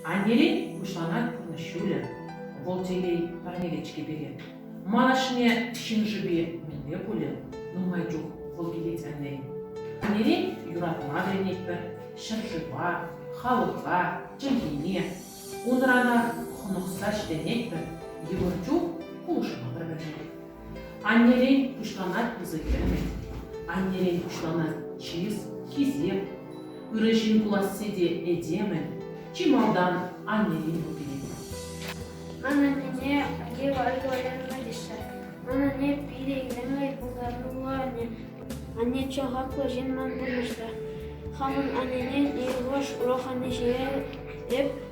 Аннерен пуҫланать пурнӑҫ ҫулӗ. Вӑл телей парнелет-ҫке пире. Ман ашне ҫын шӑпи мӗнле пулӗ? Нумай чух вӑл килет сянлен. Аннерен юратма вӗренетпӗр ҫӗршыва, халӑха, чӗлхене. Унранах хӑнӑхса ҫитӗнетпӗр, йывӑр чух пулӑшма пӗр-пӗрне. Аннерен пуҫланать пысӑк ӗмӗт. Аннерен пуҫланать чыс, хисеп. Ырӑ ҫын пуласси те этемӗн. Чи малтан аннерен ӳкерет. Ман анне Гева Альваренна теҫҫӗ. Ман анне питӗ илемлӗ пултаруллӑ анне. чи хаклӑ ҫын ман пурнӑҫра. Хамӑн аннене Иегош Рохани ҫине эп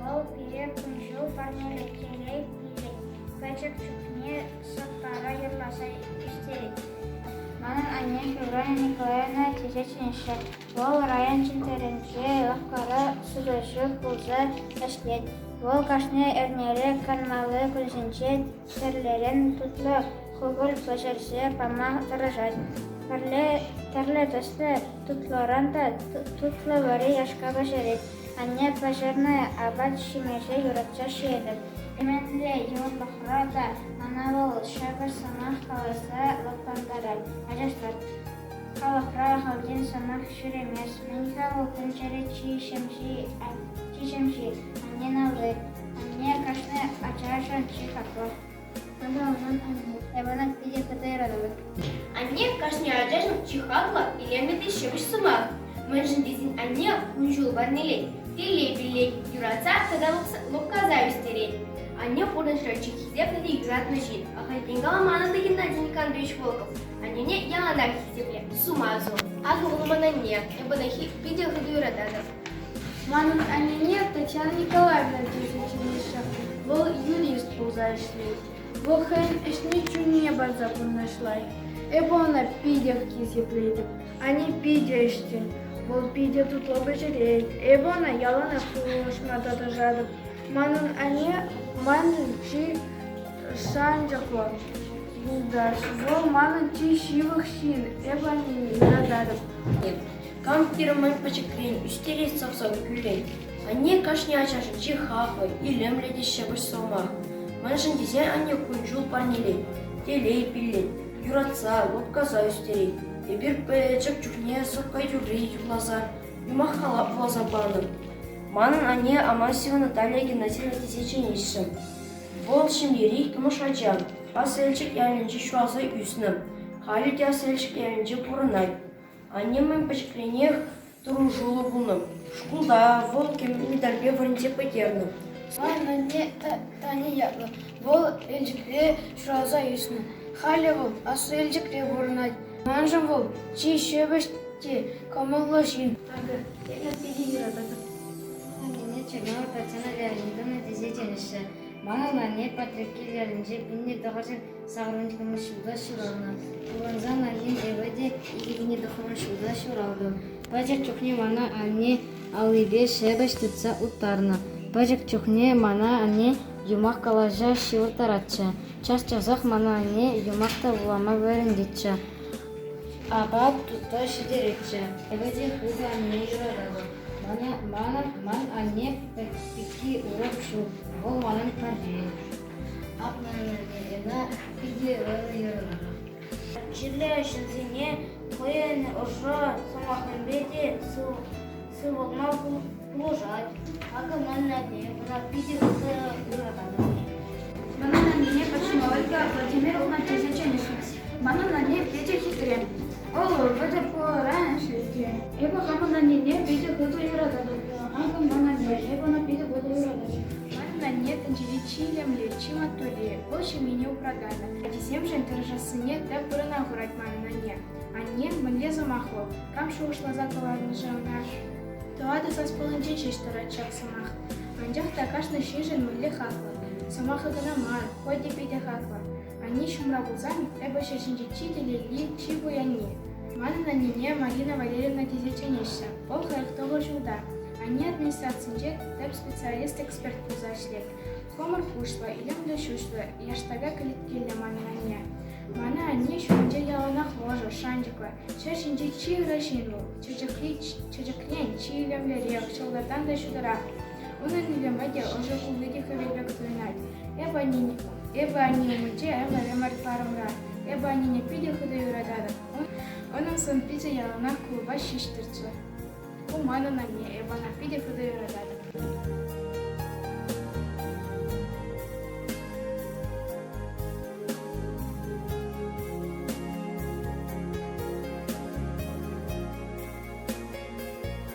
Вӑл пире кун-ҫул парнелекенре илет, пӗчӗк чухне сӑпкара юрласа ӳстерет. Манӑн анне Февралия Николаевна теҫетчӗ инҫе. Вӑл район чӗнтӗрӗнче лавккара сутаҫу пулса ӗҫлет. Вӑл кашни эрнере канмалли кунсенче тӗрлӗрен тутлӑ хупӑль пӗҫерсе пама тӑрӑшать. Пӗрле тӗслӗ тутлӑран та тутлӑ вара яшка пӗҫерет. Анне пӗҫернӗ апат ҫимӗҫе юратса ҫиетӗп. Ӗмӗтлӗ юлташлӑха та мана вӑл ҫакӑ сӑмах каласа лӑплантарать. Ачашлӑр, халӑхра хальтен сӑмах ҫӳремест. Мӗн-ха вӑл тӗнчере чи ҫемҫи, чи ҫемҫи? Аннен алли. Анне кашни ачашӑн чи хаклӑ. Мана унӑн анне, Иванах питӗ хытӑ юратӑпӑр. Анне кашни ачашӑн чи хаклӑ, илемлӗ те ҫепӗҫ сӑмах. Мӗншӗн тесен анне кун-ҫул парнелет, телей-пиллет, юратса тата лӑпкаса ӳстерет. Анне пурнӑҫра чи хисеплӗ те юратнӑ ҫын. Ахальтен каламан ӑнӑ Геннадий Николаевич Волков. Аннене яланах хисепле, сума сун. Акӑ вӑл ман анне, эпӗ ӑна питӗ хытӑ юрататӑп. Манӑн аннене Татьяна Николаевна тесе чӗнеҫҫӗ. Вӑл юрист пулса ӗҫлет. Вӑл хӑйӗн ӗҫне чунне парса пурнӑҫлать. Эпӗ ӑна питех хисеплетӗп. Ани питӗ ӗҫчен, вӑл питӗ тутлӑ пӗҫерет. Эпӗ ӑна яланах пулӑшма тӑрӑшатӑп. Манӑн анне манӑн чи шанчӑклӑ юлташ. Вӑл манӑн чи ҫывӑх ҫын. Эпӗ аннене юрататӑп. Кам хирӗмӗн пӗчӗкрен ӳстерес сӑвсӑм кӳлет. Анне кашни ачашӗнчи хаклӑ, илемлӗ те ҫепӗҫ сӑмах. Мӗншӗн тесен анне кун-ҫул парнелет, телей пиллет, юратса, лӑпкаса ӳстерет. Эпир пӗчӗк чухне сӑпка юрри юрласа, юмах-халап вуласа панӑ. Манӑн анне Амасева Наталия Геннадьевна тесе Вӑл ҫемьери тӑмӑш ача. Аселчик ялӗнче ҫуалса ӳснӗ. Халӗ те Аселчик ялӗнче пурӑнать. Анне мӗн пӗчӗкренех тӑрӑшуллӑ пулнӑ. Шкулта вӑл медальпе вырӑнне пӗтернӗ. Ман анне Тани ятлӑ. Вӑл Елчӗкре ҫуралса ӳснӗ. Халӗ вӑл Аслӑ Елчӗкре пурӑнать. Маншӑн вӑл чи ҫепӗҫ те кӑмӑллӑ ҫын. Акӑ, эпир питӗ юрататӑп. Аннене Чернова Татьяна Леонидовна тесе чӗнеҫҫӗ. Манӑн анне Патреккел ялӗнче пӗлнӗ тӑхӑрҫӗн Савӑнтарми ҫулта ҫуралнӑ. Пукансан аҫин эпӗ те икӗ тӑхӑрмӗш ҫулта ҫуралтӑм. Пӗчӗк чухне мана анне аллипе ҫепӗҫ тытса уттарнӑ. Пӗчӗк чухне мана анне юмах калаҫа ҫывӑрттаратчӗ. Час-часах мана анне юмах та вулама вӗрентетчӗ. Апат тутта ҫитеретчӗ. Эпӗ те хытӑ анне юрататӑп. Манӑн анне пӗкки урӑх ҫук. Вӑл манӑн пӗрре. Акнӑ ӑна питӗ ырӑ йӑрӑна. Чирлӗ ҫынсене хӑйӗн ӑшӑ сӑмахӗпе те сывӑлма пулӑшать. Акӑ ман анне вара питӗ ырӑ йӑрӑна. Манан аннене Максима Ольга Владимировна тесе чӗнӗҫмӗҫ. Манӑн анне питӗ хитре. Вӑл вӑтӑр пулӑран ӗҫлет. Эпӗ хамӑн аннене питӗ хытӑ юрататӑп. Маншӑн ман анне, эпӗ ӑна питӗ хытӑ юрататӑп. Манӑн анне тӗнчери чи илемлӗ, чи маттурри. Вӑл ҫемьене упрататӑп. Ачисемшӗн тӑрӑшассине тӗп вырӑна хурать манӑн анне. Анне мӗнле сӑмахлӑ, кам шухӑшласа кӑларнӑ-ши ӑна? Тӑватӑ саспаллинче ҫеҫ тӑрать ҫак сӑмах. Анчах та кашни ҫыншӑн мӗнле хаклӑ. Сӑмахӗ кӑна мар, хӑй те питӗ хаклӑ. Анне ҫумра пулсан эпӗ ҫӗр ҫинчи чи телейли, чи пуянни. Манӑн аннене Марина Валерьевна тесе чӗнеҫҫӗ. Вӑл хӑрӑк-тӑхӑр ҫулта. Анне администрацинче тӗп специалист-эксперт пулса ӗҫлет. Хӑмӑр куҫлӑ, илемлӗ ҫӳҫлӗ, яштака кӗлеткеллӗ манӑн анне. Мана анне ҫумӗнче яланах ӑшӑ, шанчӑклӑ, ҫӗр ҫинчи чи ырӑ ҫын вӑл. Чечекри чечекрен чи илемлӗрех, ҫӑлтӑртан та ҫутӑрах. Вырӑнӗ те ӑшӑ кунни те хӗвелпе кӑсӑлтарать. Эпӗ аннене, эпӗ анне умӗнче ӗмӗр ӑмӑртмарӑмра. Эпӗ аннене питӗ хытӑ юрататӑп. Унӑн сӑн-пичӗ яланах клуба ҫеҫ тӑрчӗ. Ку манӑн анне, эпӗ ӑна питӗ хытӑ юрататӑп.